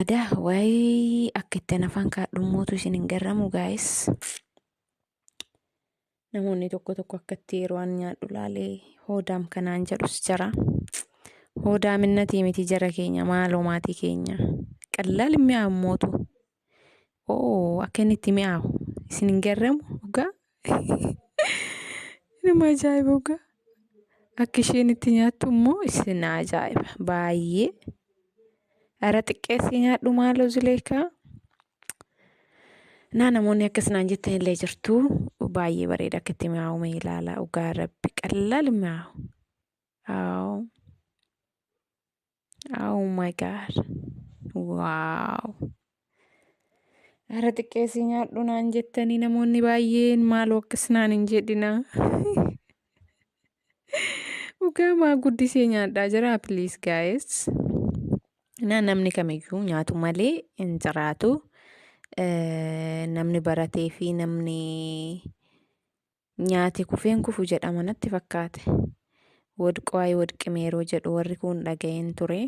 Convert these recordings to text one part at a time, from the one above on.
Ada why akka itti anafaan kaadhummootu isin hin garramu gaayis. Namoonni tokko tokko akka itti yeroo an nyaadhu laalee hoodaam kanaan jedhus jara. Hoodaaminnatii miti jara keenya maaloo maatii keenya. Qallaal hin mi'aawu mootu. Oo akka inni itti mi'aawu isin hin garramu dhugaa Nama ajaa'iba dhugaa. Akka isheen itti nyaattu immoo isin na ajaa'iba baay'ee. Ara xiqqeessii nyaadhu maaloo Zuleekaa. Naa namoonni akkas naan jettan illee jirtu baay'ee bareeda akka itti mi'aawu mee ilaala dhugaa rabbi qallaal mi'aawu. Aww. Oh my god. Wow. Ara xiqqeessii nyaadhu naan jettanii namoonni baay'een maaloo akkas naan hin jedhina. Dhugaa maa guddisee nyaadhaa jira please guys. Na namni kamiyyuu nyaatu malee hin jiraatu. Eh, Namni baratee fi namni Nyaate kufeen kufu jedhama natti fakkaate. Wodqoo ayi wodqime yeroo jedhu warri kuun dhaga'een ture.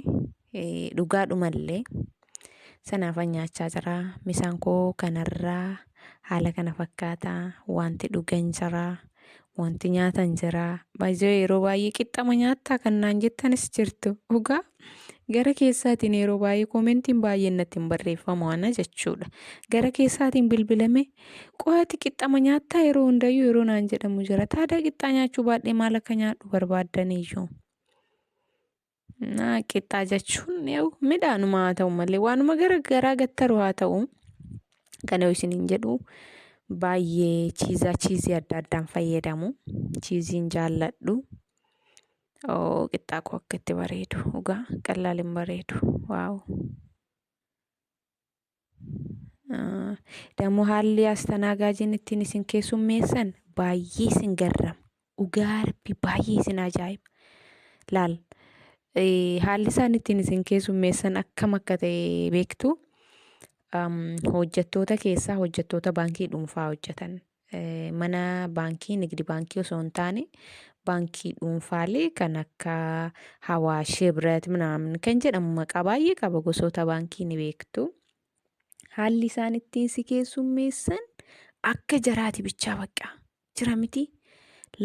Dhugaadhumallee sanaafan nyaachaa jira. Misaan koo kanarraa haala kana fakkaata. Wanti dhugan jira. Wanti nyaatan jira. Baay'ee yeroo baay'ee qixxama nyaattaa kan naan jettanis jirtu. Dhugaa gara keessaatiin yeroo baay'ee koomentiin baay'een natti hin barreeffamu ana jechuudha. Gara keessaatiin bilbilamee Qo'aati qixxama nyaattaa yeroo hundayyuu yeroo naan jedhamu jira. Taadaa qixxaa nyaachuu baadhee maal akka nyaadhu barbaaddaniyyuu. Naa qixxaa jechuun midhaanuma haa ta'u malee waanuma gara garaa gattaru haa ta'u. Kana yoo isiniin jedhu baay'ee chiizaa chiizii adda addaan fayyadamu. Chiiziin jaalladhu. Qixxaa koo akka itti bareedu dhugaa qallaaliin bareedu. Waaw. Dammoo haalli astanaagaajiin ittiin isin keessummeessan baay'ee isin garrama. Dhugaa rabbi baay'ee isin ajaa'iba. Laal haalli isaan ittiin isin keessummeessan akkam akka ta'e beektu hojjettoota keessaa hojjettoota baankii dhuunfaa hojjetan mana baankii nigdi baankii osoo hin taane baankii dhuunfaalee kan akka Hawaash Hibrat minaamin kan jedhamu maqaa baay'ee qaba gosoota baankii ni beektu. Haalli isaan ittiin si keessummeessan akka jaraati bichaa baqqaa jira miti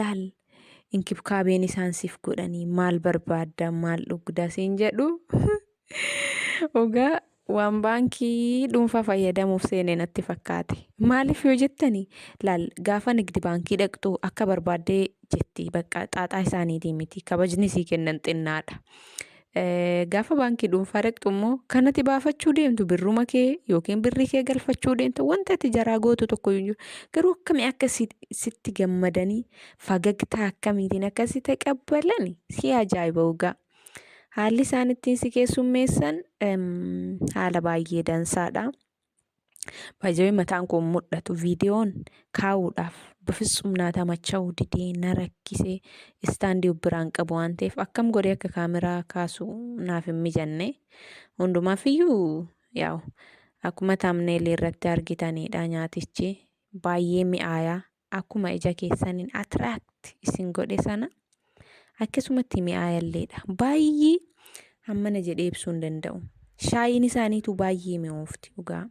laal inkibkaabeen isaan siif godhanii maal barbaadda maal dhugda siin jedhu Dhugaa waan baankii dhuunfaa fayyadamuuf seene natti fakkaate. Maaliif yoo jettani laal gaafa nigdi baankii dhaqxu akka barbaaddee jetti bakka xaaxaa isaaniitii miti kabajni sii kennan xinnaadha. Eh, Gaafa baankii dhuunfaa dhaqxu immoo kan ati baafachuu deemtu birruma kee yookiin birrii kee galfachuu deemtu wanta ati jaraa gootu tokko hin jiru. Garuu akkamii akka si- sitti gammadanii fagagtaa akkamiitiin akka si taqabbalani si ajaa'iba dhugaa. Haalli isaan ittiin si keessummeessan haala baay'ee dansaadha. Baay'ee mataan koo mul'atu viidiyoon kaa'uudhaaf bifitsum naa tamacha'uu didee na rakkise istaandii biraan qabu waan ta'eef akkam godhee akka kaameraa kaasu naaf hin mijanne. Hundumaaf iyyuu yaa'u akkuma taamneelii irratti argitanidha nyaatichi baay'ee mi'aayaa akkuma ija keessaniin attract isin godhe sana akkasumatti mi'aayalleedha. Baay'ee hammana jedhee ibsuu hin danda'u. Shaayiin isaaniitu baay'ee mi'oofti dhugaa.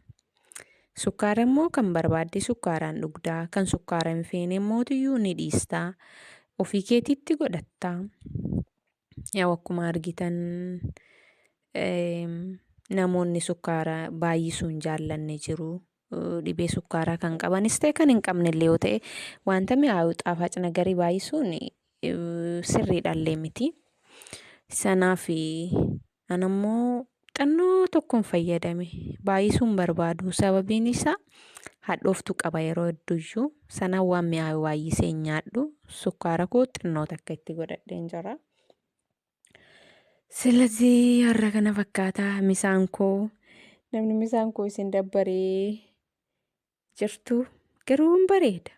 Sukkaara immoo kan barbaadde sukkaaraan dhugdaa, kan sukkaara hin feene mootiyyuu ni dhiistaa, ofii keetiitti godhattaa. Yaa'u akkuma argitan namoonni sukkaara baay'isuu hin jaallanne jiru. Dhibee sukkaaraa kan qabanis ta'e kan hin qabnellee yoo ta'e wanta mi'aayu xaafac nagarii baay'isuun sirriidhallee miti. Sanaaf an ammoo xinnoo tokkon fayyadame baay'isuun barbaadu sababiin isaa hadhooftu qaba yeroo hedduyyuu sana waan mi'aayu baay'isee hin nyaadhu sukkaara koo xinnoo takka itti godhadheen jira. Silazii har'a kana fakkaataa misaan koo namni misaan koo isin dabbaree jirtu garuu hin bareeda.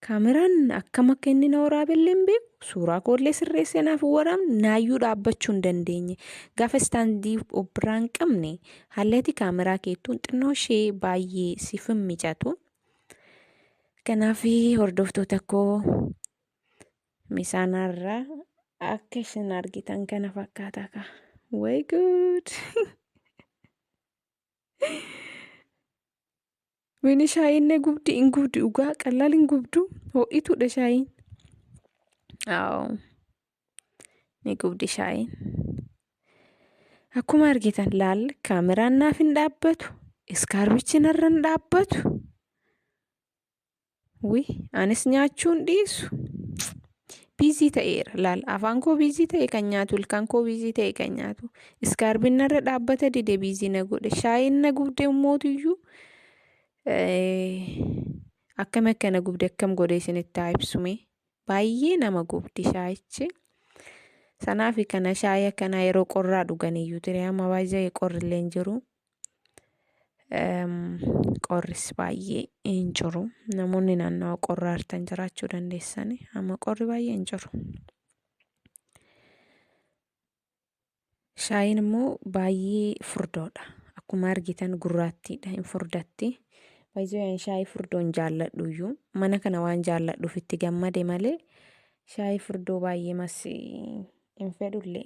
Kaameraan akkam akka inni na waraabellee hin beeku. Suuraa koollee sirreessee naaf hin waraabne naayyuu dhaabbachuu hin dandeenye. Gaafa istaandii of biraa hin qabne haalati kaameraa keettuun xinnoo ishee baay'ee siif hin mijatu. Kanaaf hordoftoota koo Misaanaa irraa akka isin argitan kana fakkaata ka. Way good! Wini shaayiin ne gubdi in gubdi dhugaa qallaal in gubdu ho'ituudha shaayiin. Aawoo ni gubdi shaayiin. Akkuma argitan laal kaameraan naaf hin dhaabbatu iskaarbichi narra hin dhaabbatu. Wi anis nyaachuun dhiisu. Biizii ta'eera laal afaan koo biizii ta'e kan nyaatu ilkaan koo biizii ta'e kan nyaatu iskaarbiin narra dhaabbata dide biizii na godhe shaayiin na gubde immootiyyuu akkam akka na gubde akkam godhe isinitti haa ibsume baay'ee nama gubdi shaayichi sanaafi kana shaayii akkanaa yeroo qorraa dhuganiyyuu ture amma baay'ee qorrillee hin jiru. qorris baay'ee hin jiru namoonni naannawa qorra artan jiraachuu dandeessani amma qorri baay'ee hin jiru shaayiin immoo baay'ee furdoodha akkuma argitan gurraattiidha hin furdatti baay'ee shaayii furdoon jaalladhu iyyuu mana kana waan jaalladhuuf itti gammade malee shaayii furdoo baay'ee mas hin fedhullee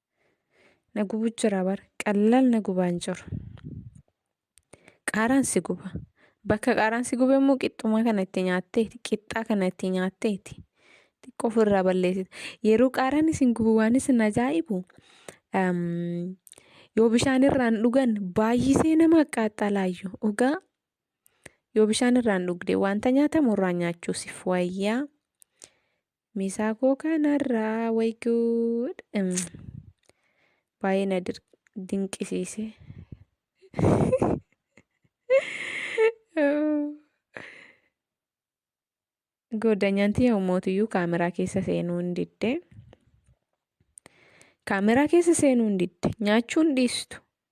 na gubu jira bar qallaal na gubaan jiru qaaraan si guba bakka qaaraan si gube immoo qixxumaa kana itti nyaatteeti qixxaa kana itti nyaatteeti xiqqoo ofirraa balleessita yeroo qaaraan isin gubu waan isin ajaa'ibu yoo bishaan irraan dhugan baay'isee nama qaxxalaayyu dhugaa yoo bishaan irraan dhugde wanta nyaatamu irraan nyaachuusif wayyaa Misaa koo kanarraa way good. Mm. Baay'ee na dir- dinqisiise. Goodanyaan tiyya ummootiyyuu kaameraa keessa seenuu hin didde. Kaameraa keessa seenuu hin didde. Nyaachuun dhiistu.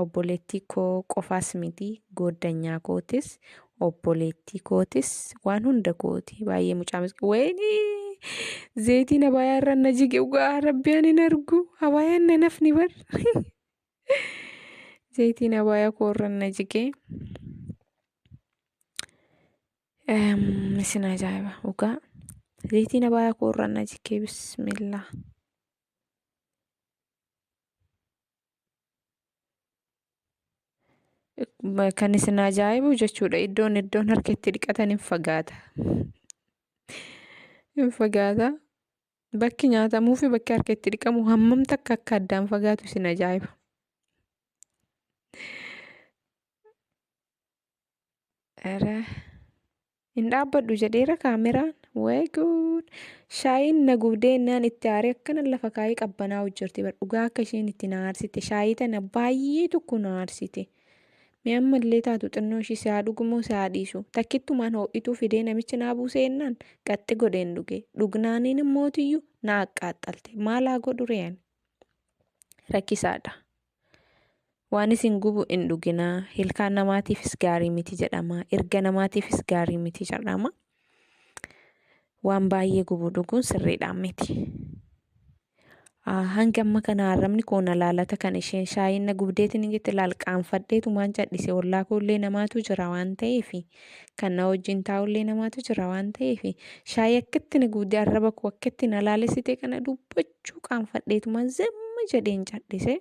Obboleettii koo qofaas miti gooddanyaa kootis obboleettii kootis waan hunda kooti baay'ee mucaa miskin wayini zeetiin abaayaa irra na jige ugaa rabbi ani hin argu abaayaan na nafni bar zeetiin abaayaa koo irra na jige isin ajaa'iba ugaa zeetiin abaayaa koo irra na jige bismillah. Kan isin ajaa'ibu jechuudha iddoon iddoon harka itti dhiqatan hin fagaata. Hin fagaata. Bakki nyaatamuu fi bakki harka itti dhiqamu hammam takka akka addaan fagaatu isin ajaa'iba. Ere. Hin dhaabbadhu jedheera kaameraan. Way good. Shaayiin na gubdee naan itti aaree akkana lafa kaayee qabbanaa hojjarte bar dhugaa akka isheen itti na aarsite shaayii tana baay'ee tokko na aarsite. Mee ammallee taatu xinnoo ishii si haa dhugumoo si haa dhiisu. Takkittumaan ho'ituu fidee namichi naa buusee ennaan qaxxi godheen dhuge. Dhugnaaniin immootiyyuu na aqqaaxxalte. Maal haa godhu re'een? Rakkisaadha. Waan isin gubu hin dhuginaa. Ilkaan namaatiifis gaarii miti jedhama. Irga namaatiifis gaarii miti jedhama. Waan baay'ee gubu dhuguun sirriidhaan miti. Ah, Hanga amma kana arrabni koo na laalata kan isheen shaayiin na gubdeetiin hin jette laal qaanfadheetu maan cadhise ollaa koo illee namaatu jira waan ta'eef kan na wajjin taa'u illee namaatu jira waan ta'eef shaayii akkitti na gubde arraba koo akkitti na laalessite kana dubbachuu jechuu qaanfadheetuma zimmi jedheen cadhise.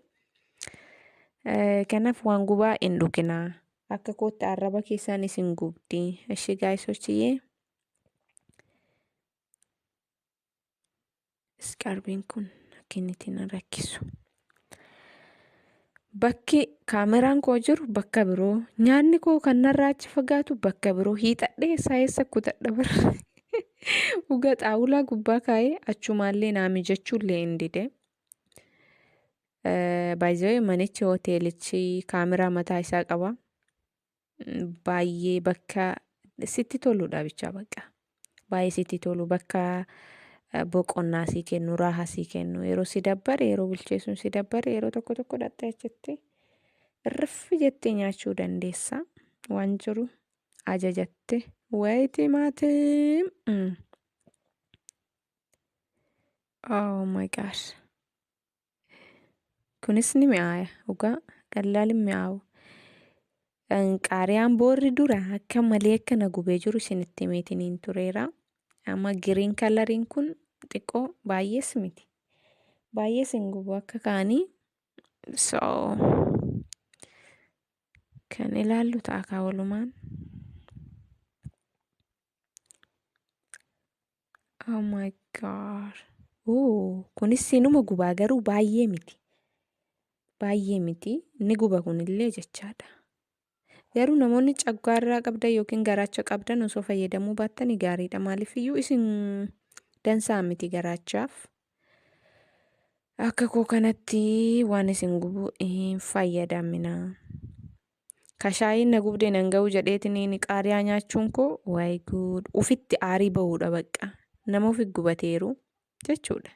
Kanaaf waan gubaa hin dhuginaa. Akka kootti arraba keessaan isin gubdi. Ishii gaayisochiyyee. Iskarbiin kun akka inni ittiin rakkisu. Bakki kaameraan koo jiru bakka biroo. Nyaanni koo kan narraa achi fagaatu bakka biroo. Hiixadhee isaa eessa kutadha bara. Uga xaawulaa gubbaa kaa'ee achumaallee naa mijachuullee hin dide. Baay'ee manichi hoteelichi kaameraa mataa isaa qaba. baay'ee bakka sitti toludha bichaa bakka. Baay'ee sitti tolu bakka eh, boqonnaa sii kennu, raaha sii kennu. Yeroo si dabbare, yeroo bilcheessuun si dabbare, yeroo tokko tokko dhattee achitti riffi jettee nyaachuu dandeessa. Waan jiru ajajatte. Wayi timaatim! Mm. Oh my gosh. Kunis ni mi'aaya dhugaa qallaal hin mi'aawu. Qaariyaan boorri dura akka malee akka na gubee jiru isinitti himeetiniin tureera. Amma giriin kalariin kun xiqqoo baay'ees miti. Baay'ees hin gubu akka kaanii. So kan ilaallu ta'a kaa walumaan. Oh my god. Oh, kunis inuma gubaa garuu baay'ee miti. Baay'ee miti. Inni guba kunillee jechaadha. Garuu namoonni caggaarraa qabdan yookiin garaacha qabdan osoo fayyadamuu baattanii gaariidha. Maaliif iyyuu isin dansaa miti garaachaaf. Akka koo kanatti waan isin gubu hin fayyadamina. Kashaayiin na gubdee nan ga'u jedheetiniin qaariyaa nyaachuun koo waay guud ufitti aarii ba'uudha baqqa nama ufi gubateeru jechuudha.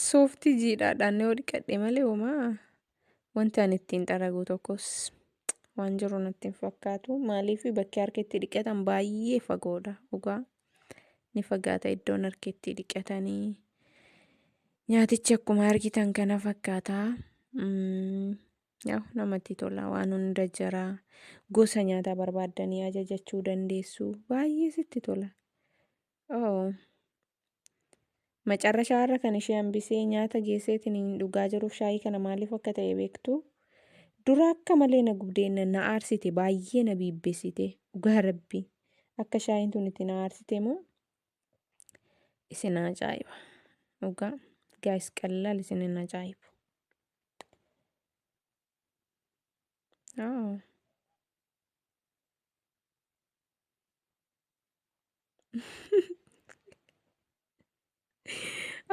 Sooftii jiidhaadhaan yoo dhiqadhe malee homaa wanti ani ittiin xaragu tokkos waan jiru natti hin fakkaatu. Maaliif bakki harka itti dhiqatan baay'ee fagoodha dhugaa. Ni fagaata iddoon harka itti dhiqatanii. Nyaatichi akkuma argitan kana fakkaata. Mm, Yaw namatti tola waan hunda jira. Gosa nyaataa barbaaddanii ajajachuu dandeessu. Baay'ee sitti tola. Oh. Macarrashaa irra kan ishee hambisee nyaata geesseetiin hin dhugaa jiruuf shaayii kana maaliif akka ta'e beektu. Dura akka malee na gubdee na na aarsite baay'ee na biibbessite dhugaa rabbi akka shaayiin tun itti na aarsite moo isin ajaa'iba dhugaa gaayis qallaal isin hin ajaa'ibu. Oh.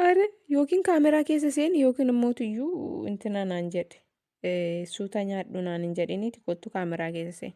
Are yookiin kaameraa keessa seeni yookiin immoo tuyyuu intina naan jedhe suuta nyaadhu naan hin jedhiniiti kottu kaameraa keessa seeni.